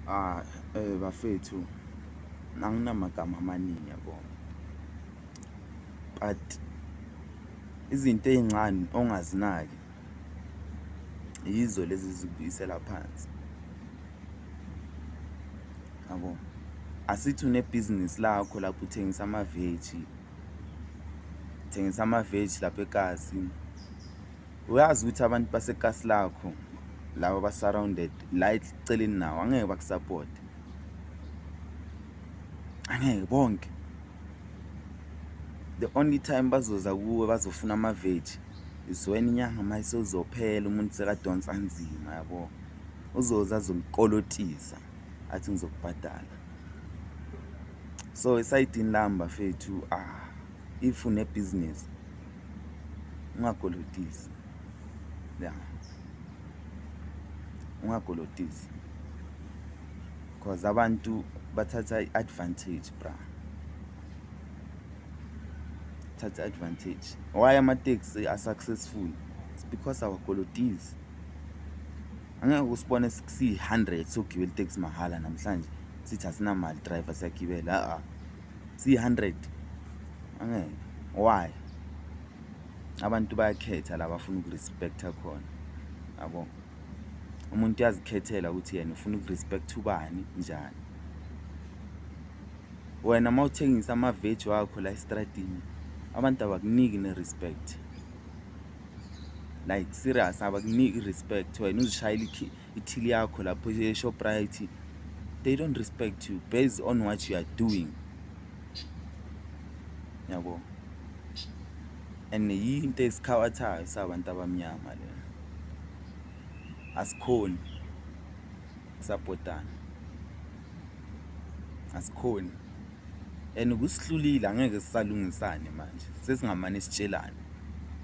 Ah eh bafethu anginamagama amaningi yabo but izinto ezincane ongazinaki yizo lezi zikubuyisela phansi yabo asithi unebhizinisi lakho lapho uthengisa amaveji thengisa amaveji lapha eKasi. uyazi ukuthi abantu basekasi lakho laba basurrounded la eceleni nawo angeke bakusupport angeke bonke the only time bazoza kuwe bazofuna amaveji is when inyanga uma isozophela umuntu sekadonsa nzima yabo uzoza azomkolotisa athi ngizokubhadala so esayidini lami bafethu ah if unebhizinisi ungakolotisi ya ungakolotisi cause abantu bathatha i-advantage bra thatha advantage why amateksi asuccessful it's because our qualities angeke usibone siyi-hundred sogibela iteksi mahhala namhlanje sithi asinamali driver siyagibela a-a C100 angeke why abantu bayakhetha la bafuna ukurespecta khona yabo umuntu uyazikhethela ukuthi yena ufuna ukurespect ubani njani wena uma uthengisa amaveji wakho la estradini abantu abakuniki ne-respect like serious abakuniki i-respect wena uzishayela ithili yakho lapho eShoprite they don't respect you based on what you are doing yabo and yinto esikhawathayo sabantu abamnyama le asikhoni sapotana asikhoni and kusihlulile angeke sisalungisane manje sesingamane sitshelane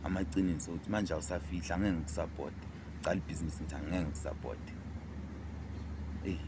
amaqiniso ukuthi manje awusafihla angeke ngikusapota cala ibhizinisi ngithi angeke ngikusapote eyi